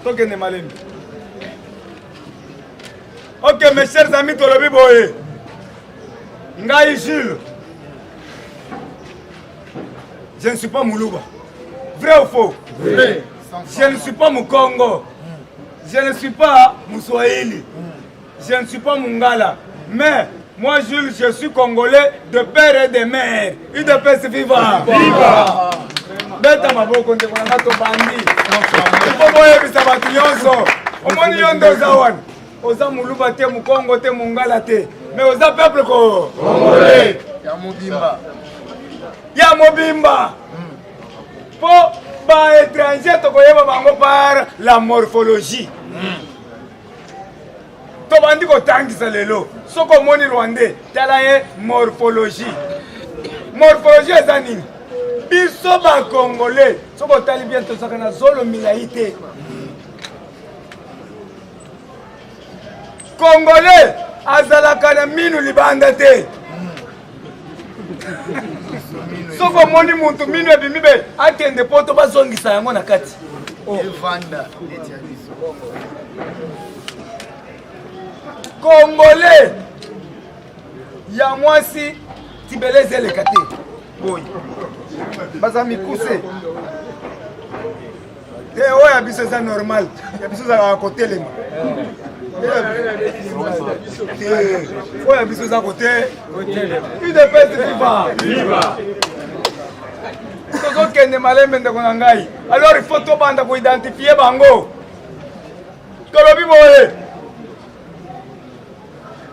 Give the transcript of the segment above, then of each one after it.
tokende malembe ok mes chers amis tolobi boye ngai jules je ne suis pas muluba vrai ou faux vrai. je ne suis pas mukongo je ne suis pas muswahili Je ne suis pas Mungala, mais moi Jules, je suis Congolais de père et de mère. UDPS viva! Viva! Beta maboko ndeko na bato bandi. Ipo boyebisa bato nyonso. Omoni yo nde oza wana. Oza muluba te, mukongo te, mungala te. Mais oza peuple ko. Congolais. Ya mobimba. Ya mobimba. Po hmm. ba étranger tokoyeba bango par la morphologie. Mm. tobandi kotangisa lelo soki omoni rwandais tala ye morphologie morphologie eza nini biso bakongole soki otali bien tozalaka na zolo milai te kongole azalaka na minu libanda te soki omoni motu mino ebimi be akende poto bazongisa yango na kati oh. evanda neti ya biso kongole ya mwasi tibeleze eleka te boyi baza mikuse te eh, oyo ya biso eza normal ya biso ezalaka kotelema oyo ya biso eza kote udepesi viva tozokende malembe ndeko na ngai alors il faut tobanda koidentifie bango tolobi boye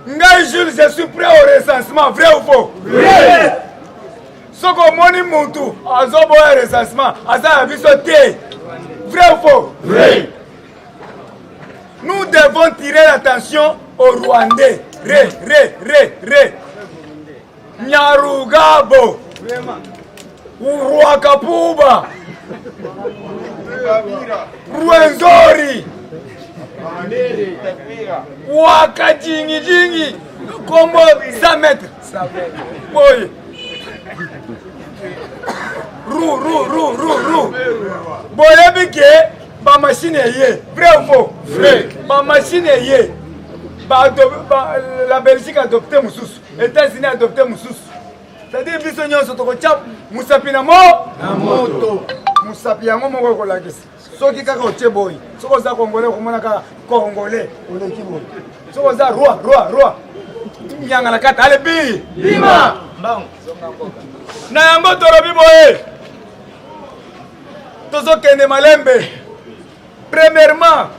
ngai jules je suis prêt au recensement vrai ou faux oui. soki omoni mutu azoboya recensement aza ya biso te vrai ou faux oui. nous devons tirer l'attention au rwandais re re re re Nyarugabo Rwakapuba Rwenzori Wakajingijingi kombo 100 mètres boye ru ru ru ru ru boyebi ke bamashine eye vrai ou faux vrai bamashine eye la belgique adopte mosusu Etats-Unis adopte mosusu c'est-à-dire biso nyonso tokotya mosapi na mo na moto mosapi yango moko ekolakisa soki kaka otie boye soki oza kongole okomona kaka kongole oleki boye soki oza roi roi roi nyanga na kata ale bi bima mbango na yango tolobi boye tozokende malembe premièrement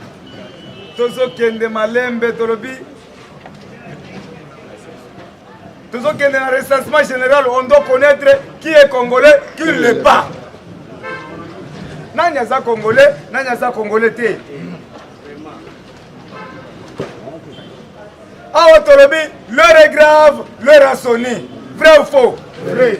tozokende malembe tolobi tozokende na recensement général on doit connaître qui est congolais qui ne l'est pas nani aza congolais nani aza congolais te awa tolobi l'heure est grave l'heure asoni vrai ou faux vrai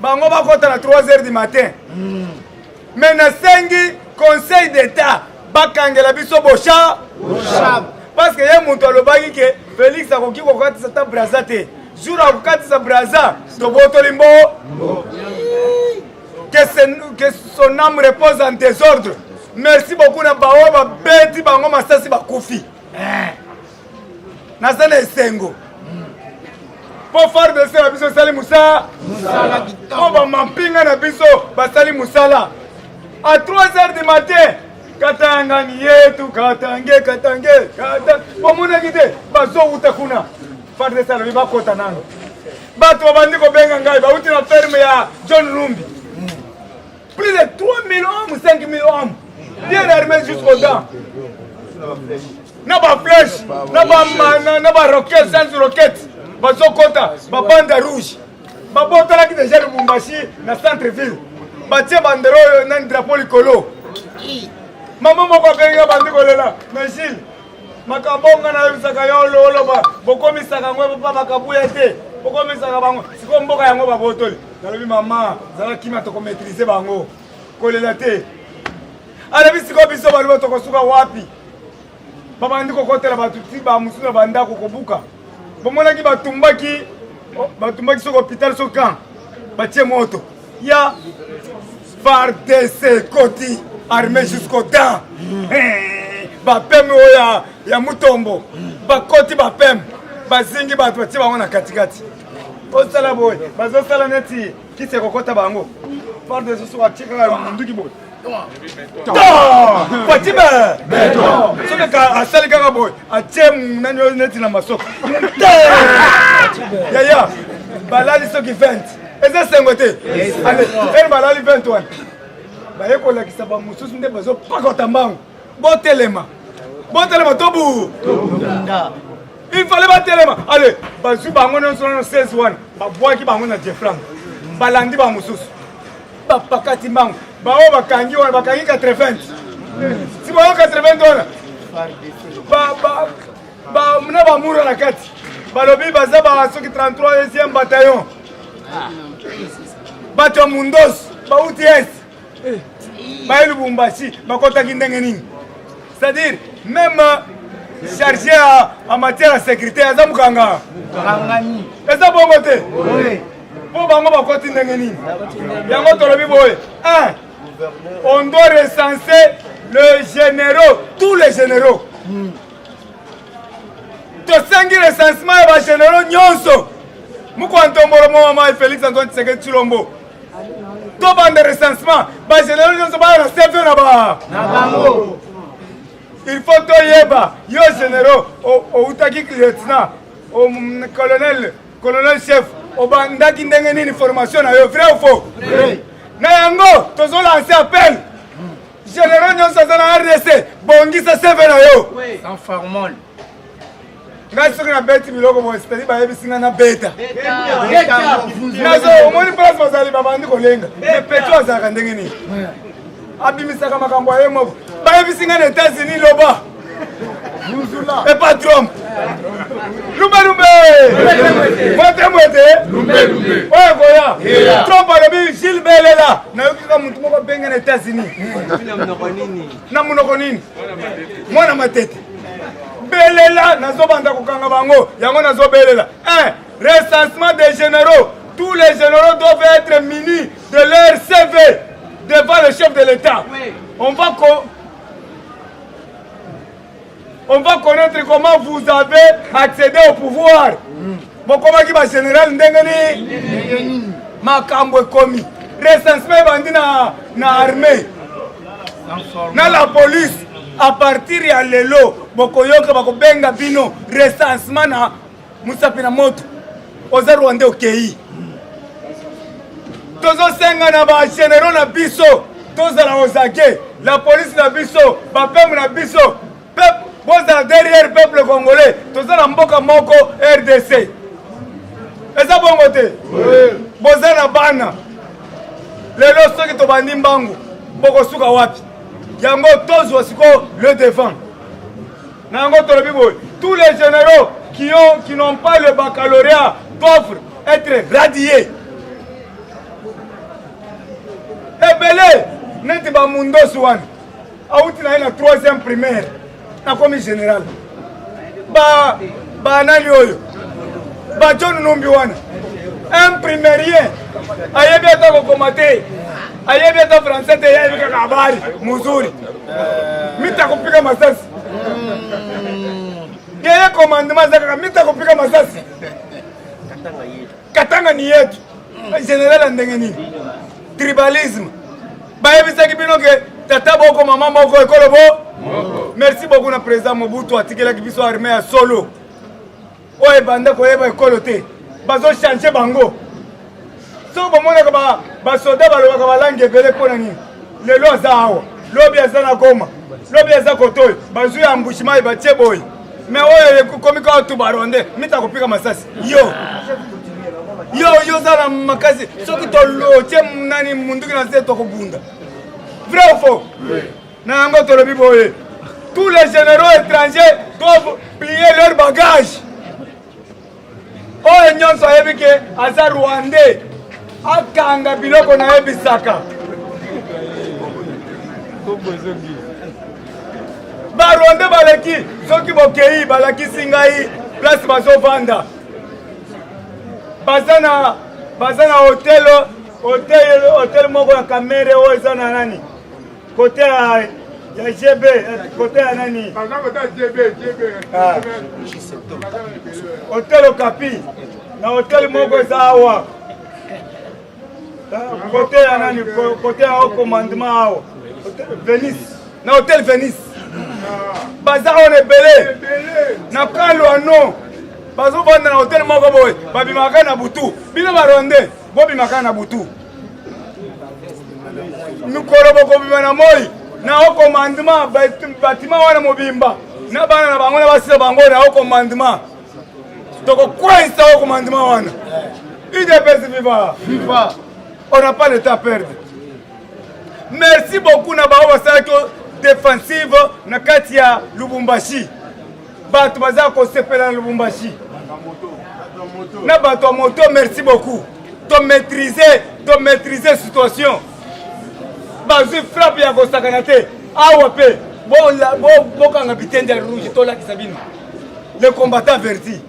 bango bakota na 3 heures du matin mm. me nasengi conseil d'état bakangela biso boshab parce que ye moto alobaki ke félix akoki kokatisa ta braza te jour akokatisa braza tobotoli mbo que son âme repose en désordre merci beaucoup na baoyo babeti bango masasi bakufi eh. naza na esengo mpo fardc na biso esali mosala mpo bamampinga na biso basali mosala a 3 heures du matin katangani yetu katange katange kata bamonaki te bazowuta kuna fardc alobi bakota nano bato babandi kobenga ngai bauti na ferme ya john lumbi Plus de 3000 hommes, 5000 hommes, bien armés jusqu'aux dents. na baflèche na bamana na baroquete sans roquete bazokota babanda rouge babotalaki deja lubumbashi na centre ville batie bandero oyo na drapeau likolo mama moko abenga bandi kolela na gile makambo nga nayebisaka yo looloba bokomisaka yango epopa bakabuya te bokomisaka bango sikoyo mboka yango babotoli nalobi mama zala kima tokomaitrise bango kolela te alobi sikoyo biso baluba tokosuka wapi babandi kokotela bato ti bamosusu na bandako kobuka bomonaki batumbaki oh, batumbaki soki hôpital so camp batie moto ya fardc koti armée jusqu'au temps eh, bapeme oyo ya, ya mutombo bakoti bapeme bazingi bato batie bango na katikati osala boye bazosala neti kisi ekokota bango fardc soki atie kaka monduki boye fatime soki ka asali kaka boye atie nani oyo neti na masoko yaya balali soki 20 eza sengo te ale balali 20 wana baye kolakisa bamosusu nde bazopakota mbangu botelema botelema tobu il fallait batelema ale bazwi bango nyonso nano 16 wana babwaki bango na jeflang balandi bamosusu bapakati mbangu baoyo bakangi wana bakangi 80 si bayo 80 wana na bamura na kati balobi baza ba soki 33 esième bataillon bato ya mundos bauti est baye lubumbashi bakotaki ndenge nini c'est-à-dire même chargé en matière ya sécurité aza mokanga eza bongo te mpo bango bakoti ndenge nini yango tolobi boye on doit recenser le généraux tous les généraux hmm. tosengi recensement ya bagénéraux nyonso mokwa ntombolo momamai félix antoine tseke tshilombo tobanda recensement bagénéraux nyonso baya na cv na ba na bango il faut toyeba yo généraux outaki lieutenant colonel Colonel chef, obandaki ndenge nini formation na yo vrai ou faux? Vrai. Na yango tozo lancer appel. General nyonso aza na RDC, bongisa CV na yo. Oui. Sans formol. ngai soki nabeti biloko boye cetadi bayebisi ngai nabeta nazo omoni place bazali babandi kolenga me petro azalaka ndenge nini abimisaka makambo ya ye moko bayebisi ngai na etats-unis loba Et pas Trump. Lumbe lumbe. Mwete mwete. Lumbe lumbe. Oya koya. Trump alobi Gilles Belela. Nayoki kaka motu moko abenge na États-Unis. Na monoko nini? Mwana matete. Belela nazobanda kokanga bango. Yango nazobelela. Eh, recensement des généraux. Tous les généraux doivent être munis de leur CV devant le chef de l'État. On va on va connaître comment vous avez accédé au pouvoir bokomaki ba général ndenge nini makambo ekomi recensement ebandi na, na armée na la police à partir ya lelo bokoyoka bakobenga bino recensement na Musapi na moto oza rwande okei tozosenga na ba generaux na biso tozala ozake la police na biso bapeme na biso peuple bozala derrière peuple congolais toza na mboka moko rdc eza bongo te boza na bana lelo soki tobandi mbangu bokosuka wapi yango tozwa sikoyo le devant na yango tolobi boye tous les généraux qui ont qui n'ont pas le baccalauréat doivent être radiés ebele neti bamundosi wana awuti na ye na troisième primaire nakomi général ba banani oyo bajohn numbi wana un primerien ayebi ata kokoma te ayebi ata français te ye ayebi kaka habari muzuri mita kopika masasi Yeye komandema aza kaka mita kopika masasi katanga ni yetu general ya ndenge nini tribalisme bayebisaki bino ke tata boko mama moko ekolo bo merci beaucoup na président mobutu atikelaki biso arme ya solo oyo ebanda koyeba ekolo te bazochange bango soki bamonaka basoda balobaka balangi ebele mpo na nini lelo aza awa lobi aza na goma lobi aza kotoyo bazwi ya mbushimai batie boye me oyo ekomi kaka tu baronde mita kopika masasi yo yo yo oza na makasi soki tolotie nani munduki na se tokobunda vrai ou faux Na yango tolobi boye, tous les généraux étrangers doivent plier leur bagage. Oyo nyonso ayebi ke aza rwandais akanga biloko na ye bisaka. Barwandais baleki soki bokei balakisi ngai place bazovanda baza na baza na hotel hotel hotel moko ya kamere oyo eza na nani Kote ya ya JB, kote ya nani? Ah. Hotel Okapi na hotel moko eza awa ah, kote ya nani? Kote ya commandement awa Venice, na hotel Venice baza oyo na ebele na kalwano bazobanda na hotel moko boye babimaka na butu bino barwande bobimaka na butu mikolo bokobima na moi na o commandement batima wana mobimba na bana na bango na basi na bango na o commandement tokokweinsa o commandement wana idps viva viva on n'a pas le temps perdre merci beaucoup na bango basalaki defensive na kati ya lubumbashi bato baza kosepela na lubumbashi na bato ya moto merci beaucoup tomaîtrise tomaîtrise situation bazwi frappe ya kosakana te awa mpe bokanga bitende ya rouge tolakisa bino le combattant verti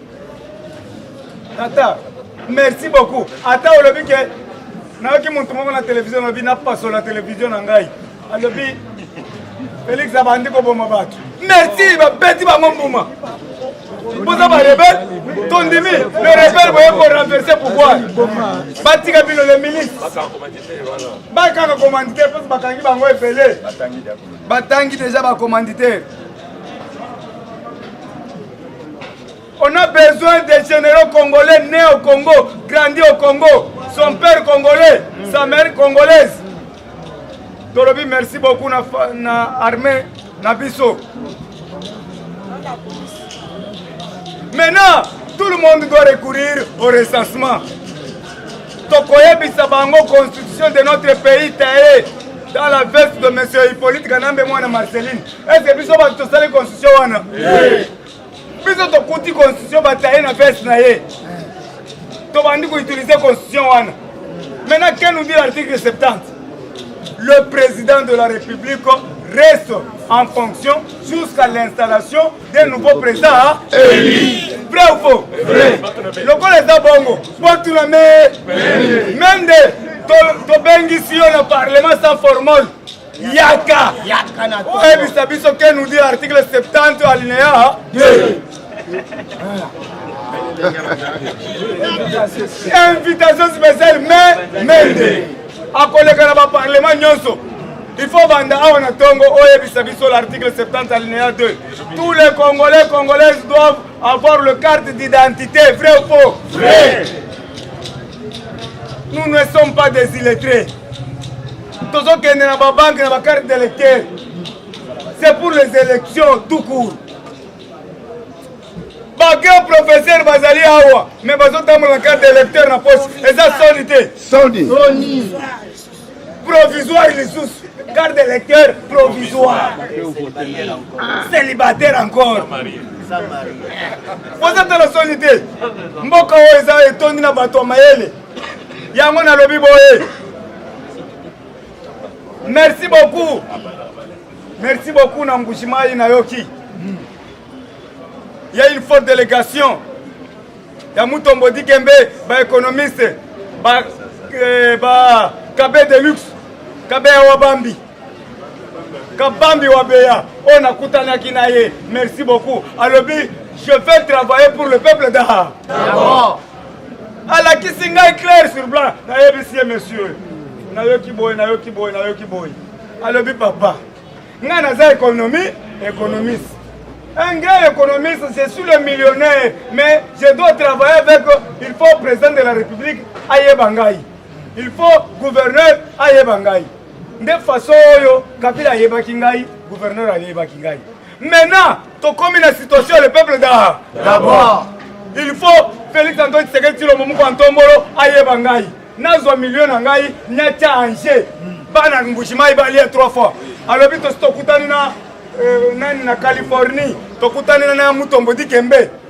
tata merci beaucoup ata olobi ke nayoki motu moko na televizio olobi napasola televizio na ngai alobi felix abandi koboma bato merci babeti bango mbuma boza barebele tondimi le rebele boye korenverse pouvoir batika bino le milice bakanga commanditaire mposo bakangi bango ebele batangi deja bacommanditaire On a besoin des généraux congolais nés au Congo, grandis au Congo, son père congolais, sa mère congolaise. Tolobi merci beaucoup na, na armée na biso. Maintenant, tout le monde doit recourir au recensement. tokoyebisa bango constitution de notre pays taye dans la veste de monsieur hippolyte kanambe mwana marceline ese biso bato tosali constitution wana biso tokuti constitution bataye na veste na ye tobandi koutilize constitution wana maintenant que nous dit l'article 70 le président de la république reste en fonction jusqu'à l'installation des nouveaux présidents élus. Vrai ou faux Vrai. lokola eza bongo botuna me mende tobengisi yo na parlement sans formole yaka oyebisa biso ke nous dit article 70 alinéa 2 invitation spéciale mais mende akoleka na baparlement nyonso il faut banda awa na ntongo oyebisa biso l'article 70 alinéa 2 tous les congolais congolaises doivent avoir le carte d'identité vrai ou faux vrai nous ne sommes pas des illettrés tozokende na babanke na bacarte d'électeur c'est pour les élections tout court bagrand professeur bazali awa mais bazotambola na carte d'électeur na poche eza soni te soni provisoire lisusu carte d'électeur provisoire célibataire encore oza tala soni te mboka oyo eza etondi na bato ya mayele yango nalobi boye merci beaucoup merci beaucoup na mbujimayi nayoki ya une forte délégation ya mutombo dikembe baéconomiste ba, eh, ba kabe de luxe kabe ya wabambi kabambi wa beya oyo nakutanaki na ye merci beaucoup alobi je vais travailler pour le peuple da alakisi ngai clair sur blanc nayebisi ye monsieur nayoki boye nayoki boye nayoki boye alobi papa ngai naza économie économiste Un grand économiste, je suis le millionnaire, mais je dois travailler avec, il faut président de la République, Aye Bangaï. Il faut gouverneur, Aye Bangaï. De façon, Kabila Aye Bangaï, gouverneur Aye Bangaï. Maintenant, tokomi na situation le peuple da d'abord. Il faut Felix Antoine Tshisekedi Tshilombo Moko Antombolo ayeba ngai. Nazwa milieu na ngai nyatia Angers. Bana Mbujimayi balia trois fois. Alobi tosi tokutani na euh, nani na Californie. Tokutani na Mutombo Dikembe.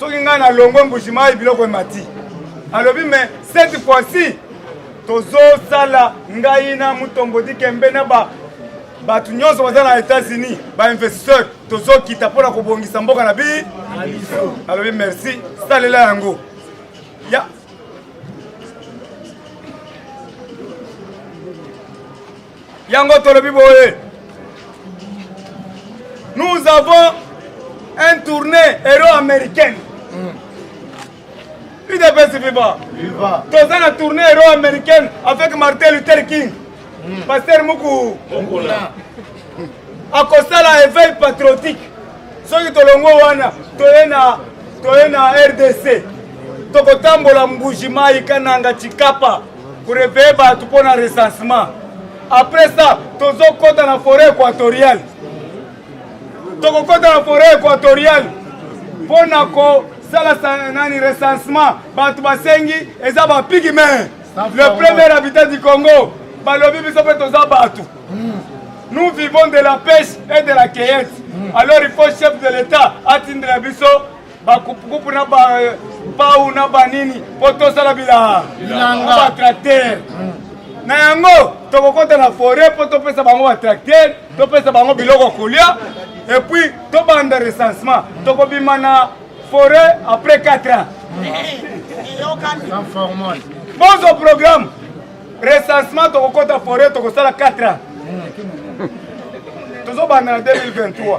soki ngai nalongwe mbujimayi biloko emati alobi me cette fois-ci tozosala ngai na mutombo dikembe na ba bato nyonso baza na états-unis bainvestisseur tozokita mpo na kobongisa mboka na bi alobi merci salela yango ya yango tolobi boye nous avons un tournée héros américaine udps viva toza na tournée héros américaine avec martin luther king hmm. pasteur muku akosala éveil patriotique soki tolongo wana toye na toye na rdc tokotambola mbuji mai kananga chikapa kureveye bato mpo na recensement après ça tozokɔta na forêt équatoriale tokokɔta na forêt équatoriale mpo na kosala nani recensement bato basengi eza bapigme le premier habitat du congo balobi biso mpe toza bato nous vivons de la pêche et de la cueillette alors il faut chef de l'état atindela biso bakupukupu na bapau na banini mpo tosala bilanga batraktere hmm. na yango tokokota na foret mpo topesa bango batraktere topesa bango biloko kolia epuis tobanda recensement tokobima na foret après 4 ans bozo programme recensement tokokota foret tokosala 4 ans hmm. tozobanda na 2023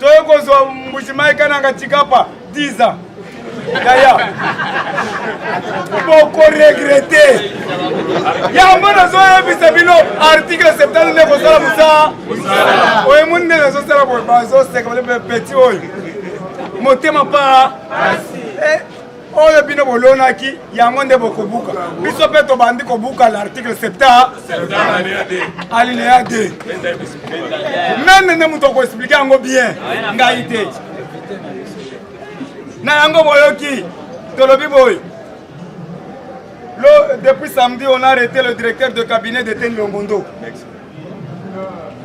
toye kozwa mbujimayi kananga tikapa 10 ans yaya bokoregrete yango nazoyebisa bino article 70 nde kosala mosala oyo emoni nde nazosala boye bazoseka bale petit oyo motema paa oyo bino bolonaki yango nde bokobuka biso mpe tobandi kobuka l'article septa alinéa 2 meme nde moto akoexplike yango bien ngai te na yango boyoki tolobi boye depuis samedi on a arrêté le directeur de cabinet de Ten Longondo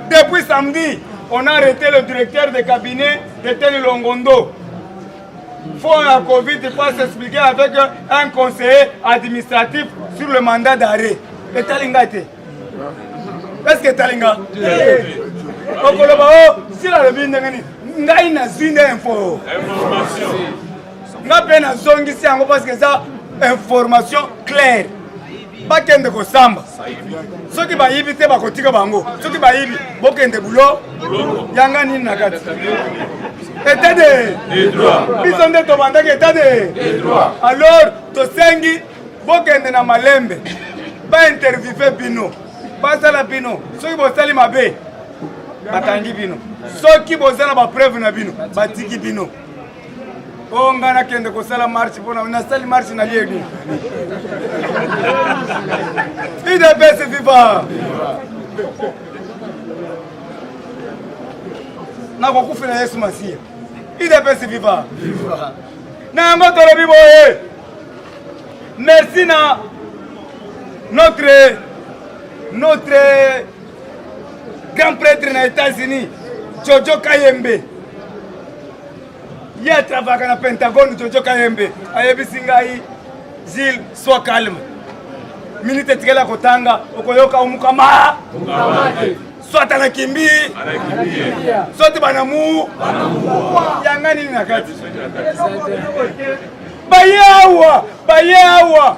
depuis samedi on a arrêté le directeur de cabinet de Ten Longondo Fond ya Covid pas s'expliquer avec un conseiller administratif sur le mandat d'arrêt. Etali ngai te. Est-ce que etali ngai? Okoloba o oh, sila lobi ndenge nini? Ngai nazwi nde info. Information. Ngai mpe nazongisi yango parce que eza information claire. bakende kosamba soki bayibi te bakotika bango soki bayibi bokende bulo yanga nini na kati etat de biso nde tobandaki etat de alors tosengi bokende na malembe bainterviewe bino basala bino soki bosali mabe bakangi bino soki boza na bapreuve na bino batiki bino o ngai nakende kosala marche mpona nasali marche na liegi idps viva nakokufela yesu masiya idps viva na yango tolobi boye merci na notre notre grand prêtre na états-unis jojo kayembe ye atravaka na pentagone jojo kayembe ayebisi ngai zile soit calme minute etikali ya kotanga okoyoka omukama soit anakimbi soit banamu yanga nini na kati baye awa baye awa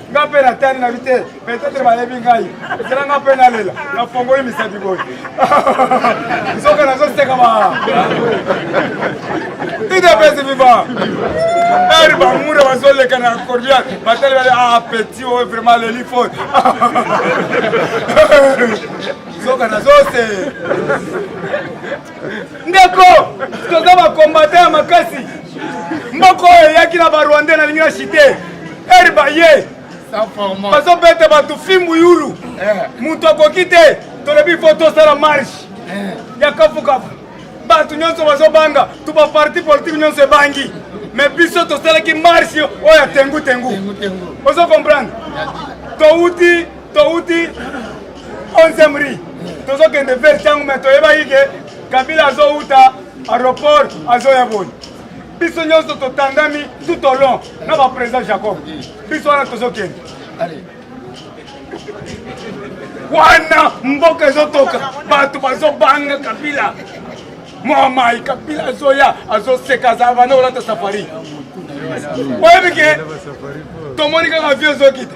nga mpe natani na bite peut-être bayebi ngai ezala nga mpe nalela nafongoli misapi boye nzoka nazoseka ba idapesi viva eri bamura bazoleka na cordial batali bale a ah, petit oyo oh, vraiment leli fo nzoka nazose ndeko toza bakombata ya makasi moko oyo eyaki na barwandais nalingi na chite ere baye bazobeta bato fimbu yulu eh. moto akoki te tolobi fo tosala marche eh. ya kafukafu bato nyonso bazobanga to baparti politike nyonso ebangi me biso tosalaki marche oyo ya tengu tengu ozo comprendre touti towuti 11 ri tozokende vers ntango me toyebaki ke kabila azowuta aéroport azoya boni biso nyonso totandami tout au long na baprésident jacob biso wana tozokende wana mboka ezotoka bato bazobanga kabila mwamai kabila azoya azoseka azala banda olata safari oyebi ke tomoni kaka vie ezokita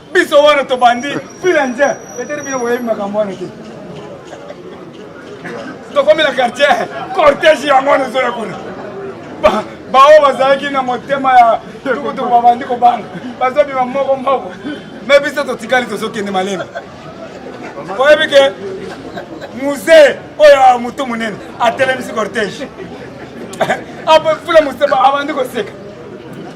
biso wana tobandi fila nje petete bino boyebi makambo wana te tokomi na quartier cortège yango wana ezoya kuna baoyo bazalaki na motema ya tukutuku babandi kobanga bazobima moko moko me biso totikali tozokende malema oyebi ke musee oyo ya motu monene atelemisi cortège fula moseba abandi koseka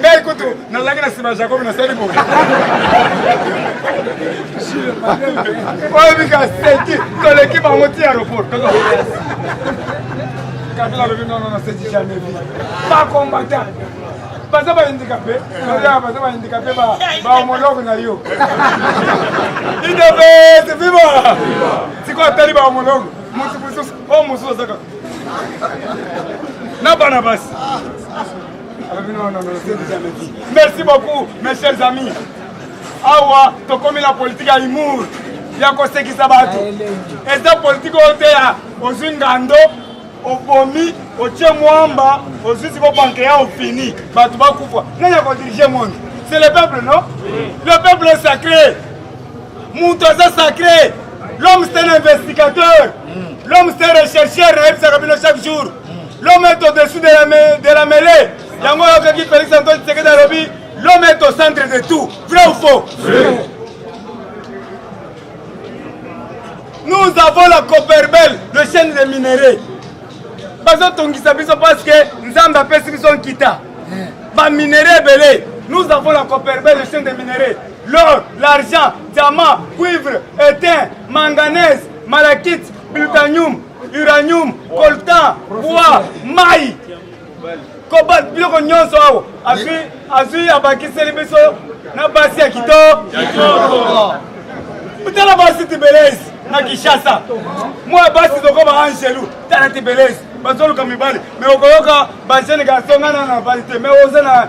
ngai kutu nalaki na nsima ya jakobi nasali boye oyebika seki toleki bango ti aeroport kabila alobi nono na seki jamais vi bakombata baza baindikape oya baza baindikape baomologe na yo idebete viva sikoyo atali baomologe motu mosusu o mosusu azaka na bana basi merci beaucoup mes chers amis awa tokomi na politike ya humour ya kosekisa bato eza politike oyo te ya ozwi ngando obomi otie mwamba ozwi siko banke ya ofini bato bakufa nani akodirige monde c'est le peuple non le peuple est sacré moto aza sacré l'homme c'est un investigateur l'homme c'est un rechercheur nayebisaka bino chaque jour L'homme est au-dessus de la, de la mêlée. Yango yokaki Felix Antoine Tshisekedi alobi l'homme est au centre de tout. Vrai ou faux? Nous avons la Copperbelle, le chaîne des minerais. bazotongisa biso parce que nzambe apesi biso nkita baminerai ebele nous avons la coperbel le chaine de minerai l'or l'argent diamant cuivre étain manganèse malakite plutanium uranium coltan bois mai kobal biloko nyonso awa azwi azwi abakiseli biso na basi ya kitoko tala basi tibelesi na kinshasa mwa basi tokoma angelu tala tibelesi bazoluka mibali me okoyoka bajeune garçon ngana na bali te me oza na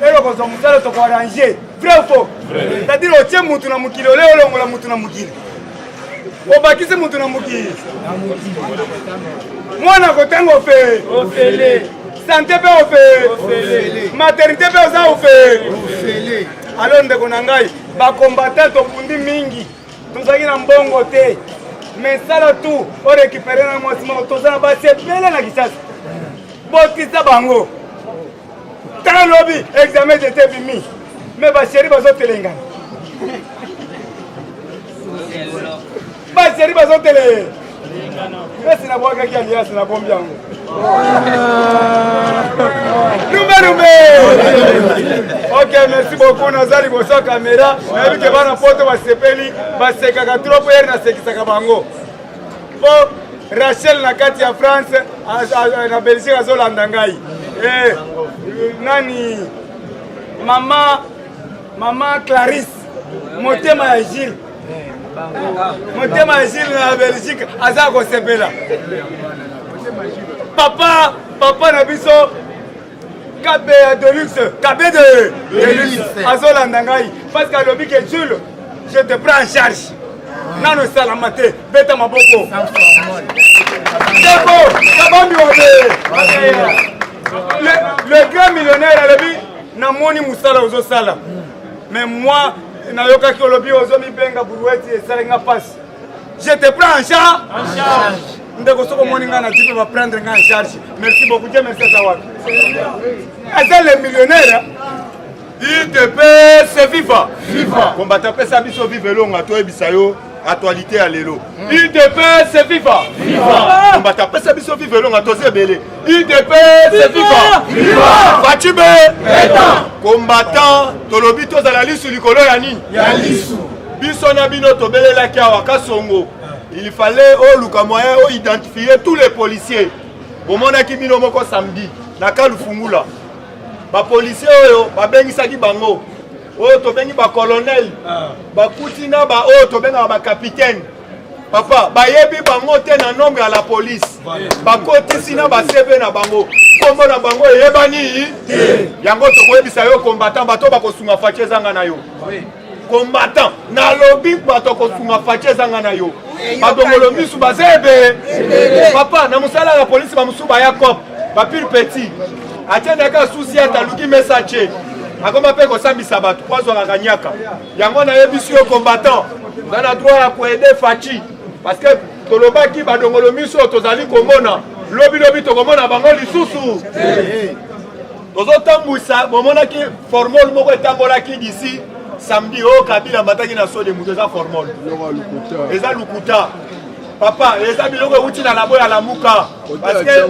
lelo kozwa mosala toko arrange vrai ou faux c'est-à-dire otie mutu na mokili oleo olongola mutu na mokili obakisi mutu na mokili mwana kotanga ofele sante mpe ofele maternité mpe oza ofele alo ndeko na ngai bakombatan tobundi mingi tozalaki na mbongo te mais sala tu orekipere na mwasi moko toza na basi ebele na kisasa botisa bango Tala lobi examen d'etat bimi me baseri bazotelengana baseri bazotele esi nabwakaki aliasi nabombi yango lumbe lumbe ok merci beaucoup naza liboso ya kamera nayebi ke bana poto basepeli basekaka trop ere nasekisaka bango po Rachel na kati ya France na Belgique azolanda ngai eh, nani mama mama Clarisse motema ya Gilles motema ya Gilles na Belgique aza kosepela papa papa na biso kabeya delux kabede delux azolanda ngai parce que alobi ke jule je te prends en charge nano esalama te beta maboko debo kabambi wabe le grand millionnaire alobi namoni mosala ozosala mais moi nayokaki olobi ozomibenga burueti esalaki nga mpasi Je te prends en charge. En charge. ndeko soki omoni ngai na jipe baprendre ngai en charge merci beaucoup je merci aza wapi aza le millionnaire idp se viva viva kombata apesa biso vive elonga toyebisa yo actualité ya lelo idp se viva viva kombata apesa biso vive elonga toza ebele udps viva viva facibe etant combattant tolobi tozala lisu likolo ya nini ya lisu biso na bino tobelelaki awa kasongo il fallait oluka oh, moyen oidentifie oh, tous les policiers bomonaki bino moko samedi na kalufungula bapolisier oyo babengisaki bango oyo tobengi bacolonel ah. bakuti na baoyo tobengaka bakapitaine papa bayebi bango te na nombre ya la police bakotisi na basebe na bango nkombo na bango eyebani yango tokoyebisa yo combattant bato bakosunga faci ezanga na yo combattant nalobi bato akosunga faci ezanga na yo badongolo misu baza ebe papa na mosala ya polisi bamosusu baya cop bapile petit atiendaka susi ata aluki mesa ce akoma mpe kosambisa bato po azwaka kanyaka Yango nayebisi yo combattant, nga na droit ya koede Fachi parce que tolobaki badongolo miso tozali komona lobi lobi tokomona bango lisusu tozotambwisa bomonaki formol moko etambolaki disi samedi oyo oh, kabila amataki na sode moto eza formol eza lukuta papa eza biloko euti na labo ya lamuka parce que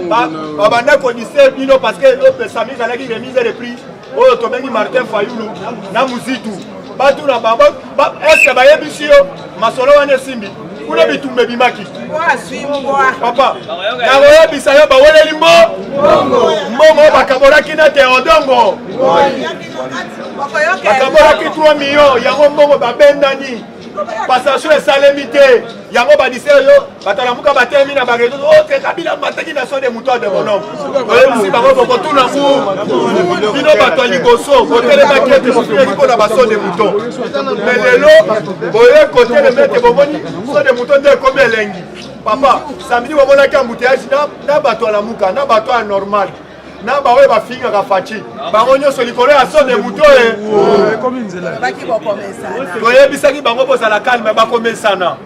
babanda kodise bino parce que opesami ezalaki remise de prix oyo tobengi Martin Fayulu na Muzitu batu na bango eske bayebisi yo masolo wana esimbi kuna bitumba ebimaki papa nakoyebisa yo baweleli mbo mbongo bakabolaki na teodongo bakabolaki 3 million yango mbongo babendani passation esalemi te yango badise yo bato alamuka batelemi na barezo oke oh, kabila mataki na so de moto ya demonom oyebisi bango bokotuna ngu bino bato ya liboso botelemaki ete bofinaki mpo na baso de moto me lelo boye kotelema ete bomoni so de moto nde ekomi elengi papa samedi bomonaki ambuteage na bato ya lamuka na bato ya normal na baoyo bafingaka faci bango nyonso likolo ya so de moto e toyebisaki bango bozala kalme bakomesana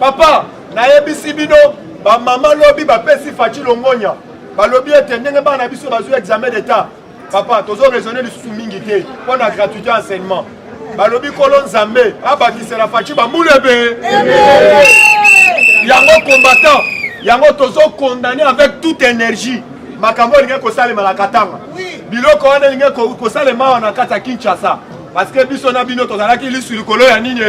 Papa, nayebisi bino bamama lobi bapesi Fachi Longonya balobi ete ndenge bana na biso bazwi examen d'etat papa tozo raisonne lisusu mingi te mpo na gratuité ya enseignement balobi nkolo nzambe abakisela Fachi bambula ebe yango combattant yango tozo condamne avec toute énergie makambo elingaki kosalema na katanga biloko wana elingaki kosalema awa na kati ya kinshasa parce que biso na bino tozalaki lisu likolo ya nini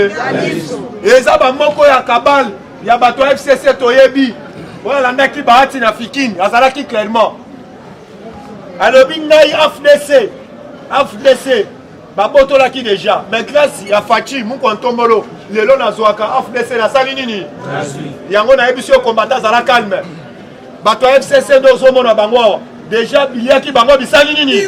eza bamoko ya kabale ya bato ya fcc toyebi oyo alandaki bahati na fikini azalaki clairement alobi ngai afdc afdc babotolaki deja mais grâce ya faci mukwa ntombolo lelo nazwaka afdc nasali nini yango nayebisi yo kombata azala calme bato ya fcc nde ozomona bango awa deja biliaki bango bisali nini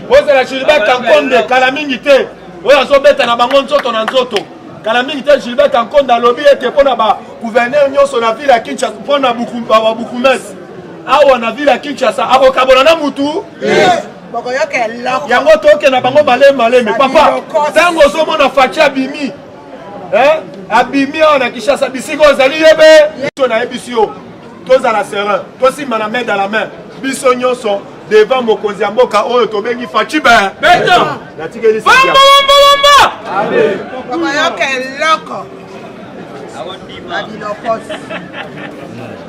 ozala gilbert kankonde kala mingi te oyo azobeta na bango nzoto na nzoto kala mingi te gilbert kankonde alobi ete mpo na bagouverneur nyonso na ville ya kinshasa mpo na babukumesi awa na ville ya kinshasa akokabola na mutu yango tokenda bango malemi malemi papa ntango ozomona faci abimi eh? abimi awa na kinshasa bisika ozali yebe biso nayebisi yo tozala serein tosimba na main dans la main biso nyonso devant mokonzi ya mboka oyo tobengi faci ben natikeli oyoka eloko na bilokosi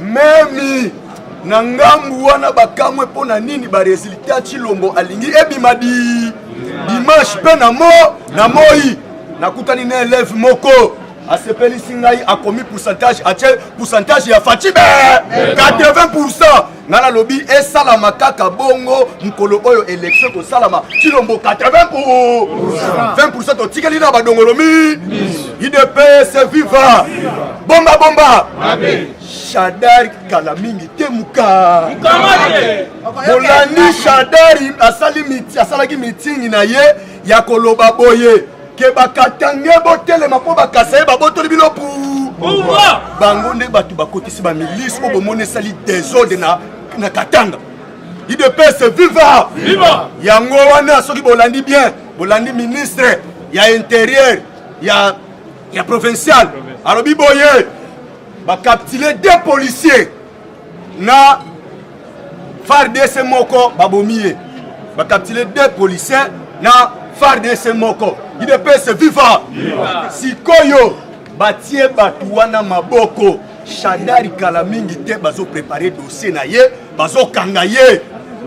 memi na ngambu wana bakamwe mpo na nini baresultat chilombo alingi ebima di dimanche mpe na mo na moi nakutani na eleve moko asepelisi ngai akomi pourcentage atie pourcentage ya fatibe 80 pourcent ngai nalobi esalama kaka bongo mokolo oyo elektio ekosalama cilombo 80 20 pourcent totikeli na badongolomi udps viva bomba bomba shadari kala mingi te muka bolandi shadari asali asalaki mitingi na ye ya koloba boye ke bakatange botelema mpo bakasa ye babotoli bino pu bango nde bato bakotisi bamilise oyo bomoni esali desordre na, na katanga idps viva yango wana soki bolandi bien bolandi ministre ya interieur ya, ya provincial alobi boye bakaptile de policier na fardc moko babomi ye bakaptile de policier na fardc moko idps viva sikoyo batie bato wana maboko shadari kala mingi te bazoprepare dossier na ye bazokanga ye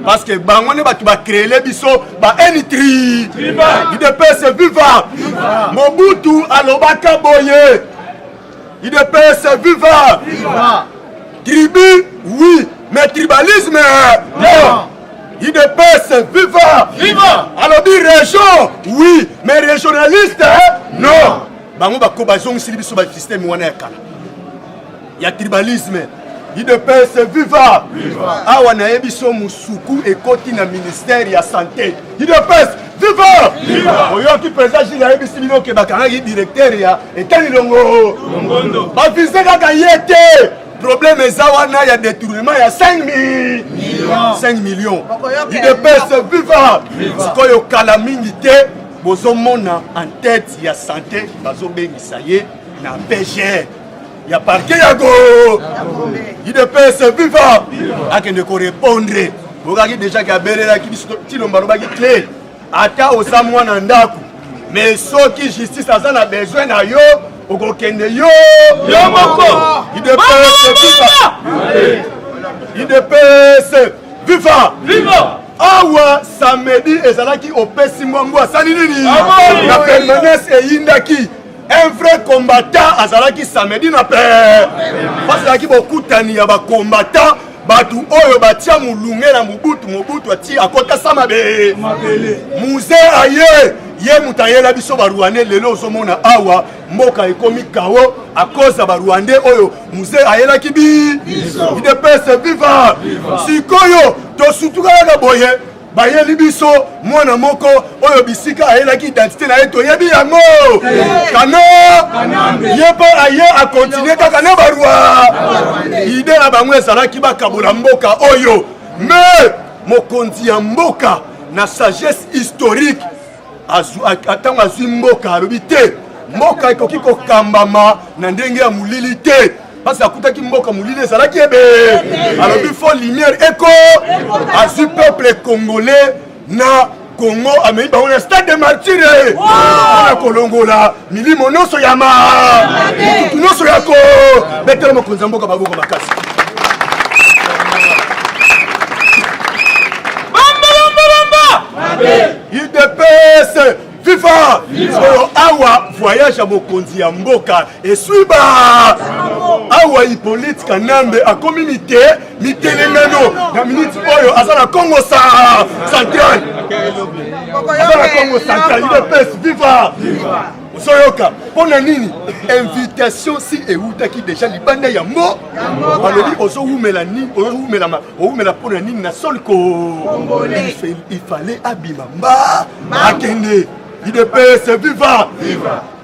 parce que bango nde bato bacreele biso baenitri idps viva mobutu alobaka boye idps viva tribu oui mais tribalisme non idps viva alobi région oui mais régionaliste non bango bazongisili biso basysteme wana ya kala ya tribalisme idps viva, viva. awa naye biso musuku ekoti na ministère ya santé idps viva, viva. oyoki président jile ayebisi bino ke bakangaki directeur ya etali longo bavize kaka ye te problème eza wana ya détournement ya 5 5 millions idps viva sikoyo kala mingi te bozomona en tête ya santé bazobengisa ye na pgr ya parke ya go idps viva akende korepondre bokaki deja ke abelelaki biso tilomba alobaki te ata oza mwana ndako me soki justice aza na besoin na yo okokende yo yo moko idps viva idps viva viva awa samedi ezalaki opesi mbwa mbwa asali nini na permanence eyindaki un vrai combattant azalaki samedi na pe parce ezalaki bokutani ya bacombattant bato oyo batia molunge na mobutu mobutu ati akotasa mabe muze aye ye moto ayela biso barwandais lelo ozomona awa mboka ekomi kao akoza barwandais oyo muze ayelaki bi idepese viva sikoyo tosutuka kaka boye bayeli biso mwana moko oyo bisika ayelaki identité na ye toyebi yango kana ye mpe aye akontinue kaka na barwa ide na bango ezalaki bakabola mboka oyo me mokonzi ya mboka na sagesse historique ntango azwi mboka alobi te mboka ekoki kokambama na ndenge ya molili te mpasi akutaki mboka molili ezalaki ebe alobi fo lumière eko azwi peuple congolais na kongo amei bango na stade de martire mpona kolongola milimo nyonso ya ma motutu nyonso ya ko betela mokonzi ya mboka baboko makasi udps viva oyo awa voyage ya mokonzi ya mboka eswiba awa ipolite kanambe akomi mite mitelengano na miniti oyo aza na congo sa central aza na congo central udps viva ozoyoka mpo na nini invitation si eutaki deja libanda ya mbo alobi ozowumela nini ozowumela owumela mpo na nini na sol ko il fallait abima mba akende idps viva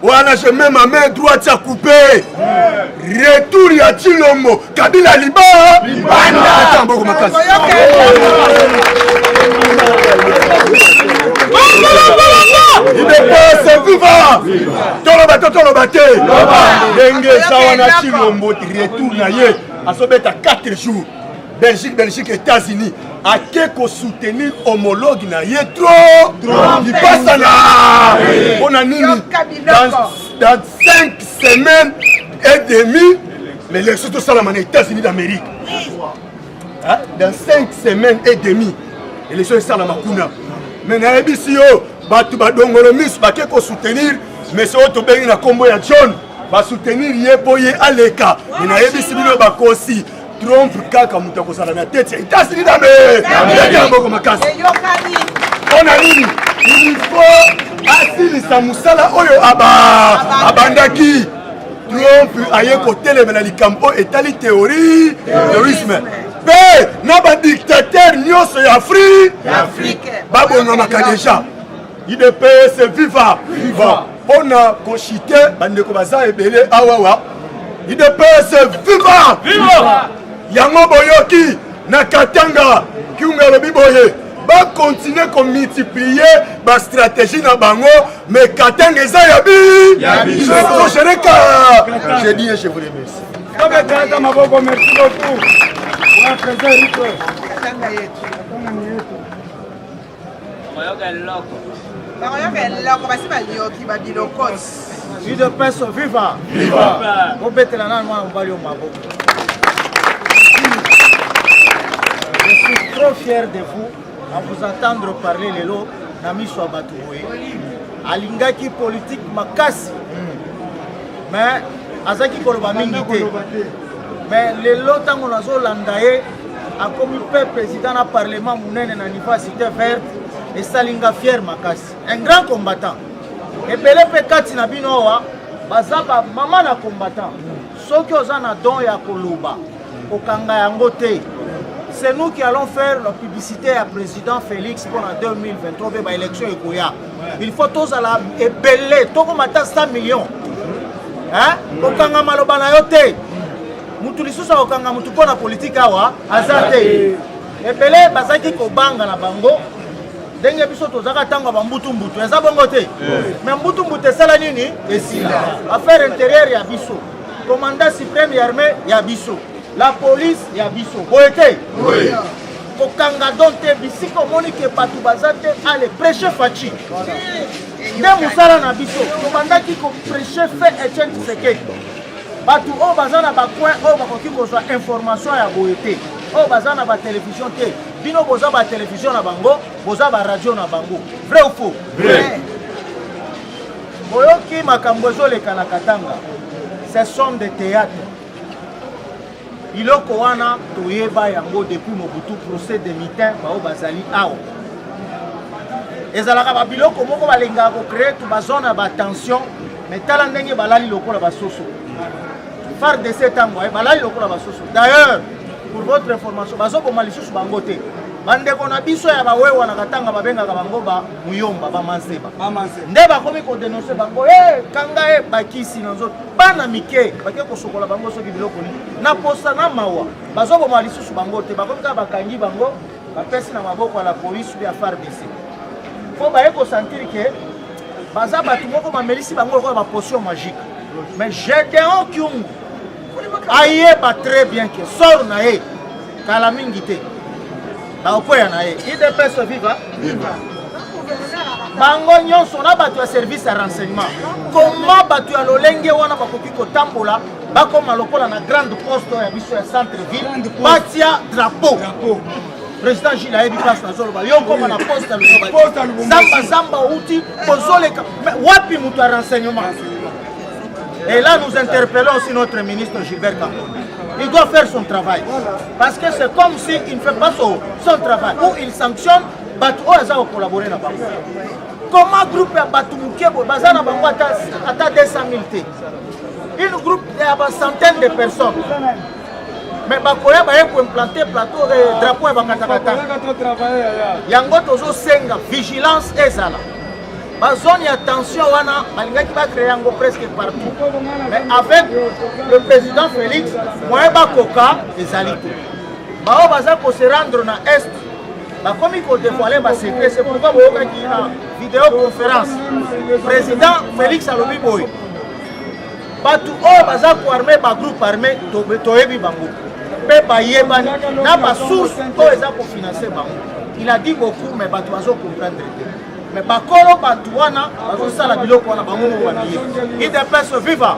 wana je mets ma main droite ya coupe retour ya tshilombo kabila liba libanda mboko makasi idepese viva toloba to toloba te ndenge eza wana tshilombo retour na ye azobeta 4 jours Belgique, Belgique, États-Unis. À Keko soutenir homologue na ye trop. Il passe à la. On a mis dans, dans cinq semaines et demie l'élection tout ça là, les États-Unis d'Amérique. Hein? Dans cinq semaines et demie l'élection est ça la macuna. Mais na ABC yo, batu ba dongolo miss ba Keko soutenir, mais c'est autre bengi na combo ya John. Ba soutenir ye boye aleka. Mais na ABC bino ba kosi. Trump kaka moto akozala na tete ya Etats-Unis na mbebi ya mboko makasi. Mpo na nini? Il faut asilisa mosala oyo abandaki. Trump aye kotelemela likambo oyo etali theorie terrorisme mpe na badiktatere nyonso ya Afrique babongamaka deja idps viva viva mpona koshite bandeko baza ebele awawa idps viva viva yango boyoki na katanga kiunga alobi boye bakontinue komultiplie bastratégie na bango mais katanga eza ya biprochereka je dis et je vous remercie tobetaka maboko merci beaucoup wa président rico fier de vous en vous entendre parler lelo na miso ya bato boye alingaki politike makasi mais azalaki koloba mingi te mais lelo ntango nazolanda ye akomi pe président na parlement monene na niveau ya cité verte esali nga fiere makasi un grand combattant ebele mpe kati na bino awa baza bamama na combattant soki oza na don ya koloba kokanga yango te c'est nous qui allons faire la publicité ya président félix mpona 2023 mpe baélection ekoya il faut tozala ebele tokoma ata 100 millions kokanga maloba na yo te mutu lisusu akokanga mutu mpo na politike awa aza te ebele bazalaki kobanga na bango ndenge biso tozalaka ntango ya bambutumbutu eza bongo te me mbutumbutu esala nini esila affaire intérieure ya biso commandant supreme ya armée ya biso la police ya biso boye te kokanga don te bisika omoni ke bato baza te ale prêche faci nde mosala na biso tobandaki koprêche fe etienne tshisekedi bato oyo baza na bacoin oyo bakoki kozwa information ya boye te oyo baza na batelevizio te bino boza batelevizio na bango boza baradio na bango vrai ou faux boyoki makambo ezoleka na katanga ce sont de théâtre Biloko wana toyeba yango depuis Mobutu procès de mitin baoyo bazali awa ezalaka babiloko moko balingaka kocree tu bazone ya batension mais tala ndenge balali lokola basoso fardc ntango aye balali lokola basoso d'ailleurs pour votre information bazoboma lisusu bango te bandeko na biso ya bawewa na katanga babengaka bango bamuyomba bamanseba nde bakomi kodenonse bango e kanga e bakisi na nzoto bana mike bake kosokola bango soki biloko nini na posa na mawa bazoboma lisusu bango te bakomi kaka bakangi bango bapesi na maboko ya la polise ya fardc mpo baye kosentir ke baza bato moko bamelisi bango lokola bapotion magique mais gedeon kiungu ayeba très bien ke sor na ye Kala mingi te. Bakokwea na ye. IDPS viva. Viva. bango nyonso na bato ya service ya renseignement koma bato ya lolenge wana bakoki kotambola bakoma lokola na grande poste ya biso ya centre ville batia drapeau président gile ayebi place nazoloba yo okoma na poste ya luzamba zamba outi kozoleka wapi moto ya renseignement Et là, nous interpellons aussi notre ministre Gilbert Cambon. Il doit faire son travail. Parce que c'est comme s'il si ne fait pas son, son travail. Ou il sanctionne bato oyo aza kokolabore na bango comment groupe ya bato moke boye baza na bango ata 200 000 te une groupe ya bacentaine de personnes mais bakoya baye koimplante plateau eh, drapeau ya bakatakata yango tozosenga vigilance ezala ba zone ya tension wana balingaki bacreye yango presque partout mais avec le président félix moyen bakoka ezali te baoyo baza kose rendre na est bakomi kodevoile basecret se pourkoi boyokaki na videoconférence président félix alobi boye bato oyo baza koarme bagroupe armé toyebi bango mpe bayebani na basource oyo eza kofinanse bango il a dit beaucoup mais bato bazo comprendre te mais bakolo bato wana bazosala biloko wana bango moko babiye idps viva